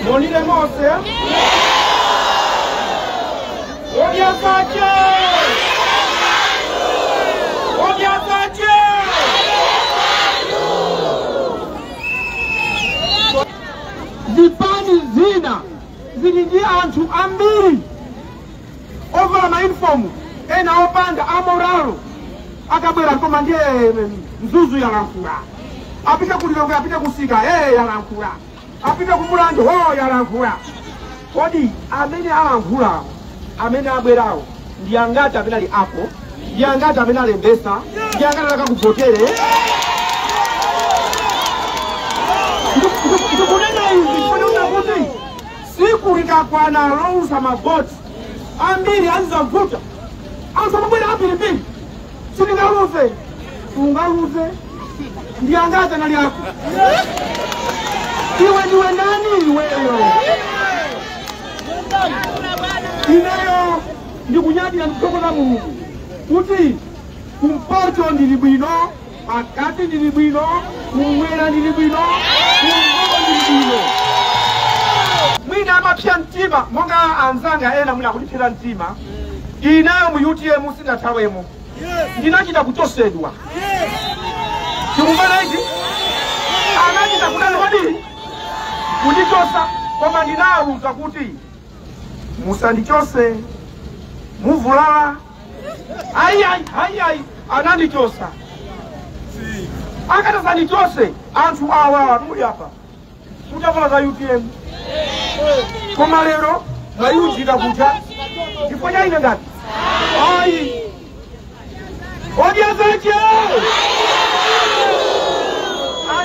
Monire mose. Odya zake. Odya zake. Zipani zina zili ndi anthu ambiri ovala mayunifomu ena opanda amoralo akabwera koma ndiye mzuzu yalankhula apita ku lilongwe apita kusika ee yalankhula apita ku mulanje ho yalankhula kodi amene alankhulawo amene abwerawo ndi angati amene ali apo ndi angati amene alembesa ndi angati azakakuvotere ndikunena izi Tsiku likakwana louza mavoti ambiri azidzavuta anthu amabwera ambirimbiri sindingaluze sungaluze ndi angati anali ako iwe ndiwe ndani iweyo ineyo ndikunyadira ndikuthokoza mulungu kuti kumpoto ndili bwino pakati ndili bwino kumwera ndili bwino kumpoto ndili bwino mwina amapsa mtima monga anzanga ena mwina akundipsera mtima ineyo mu utm sinathawemo ndinachita kuchosedwa tikumvana ichi anachita kutani kodi kundichosa koma ndinawauza kuti musandichose muvulala ayi ayi ayi ayi anandichosa akatazandichose anthu awawa muli apa mutavala za utm koma lero mwayunjika kuja ndipo chaine ndati ayi odya zache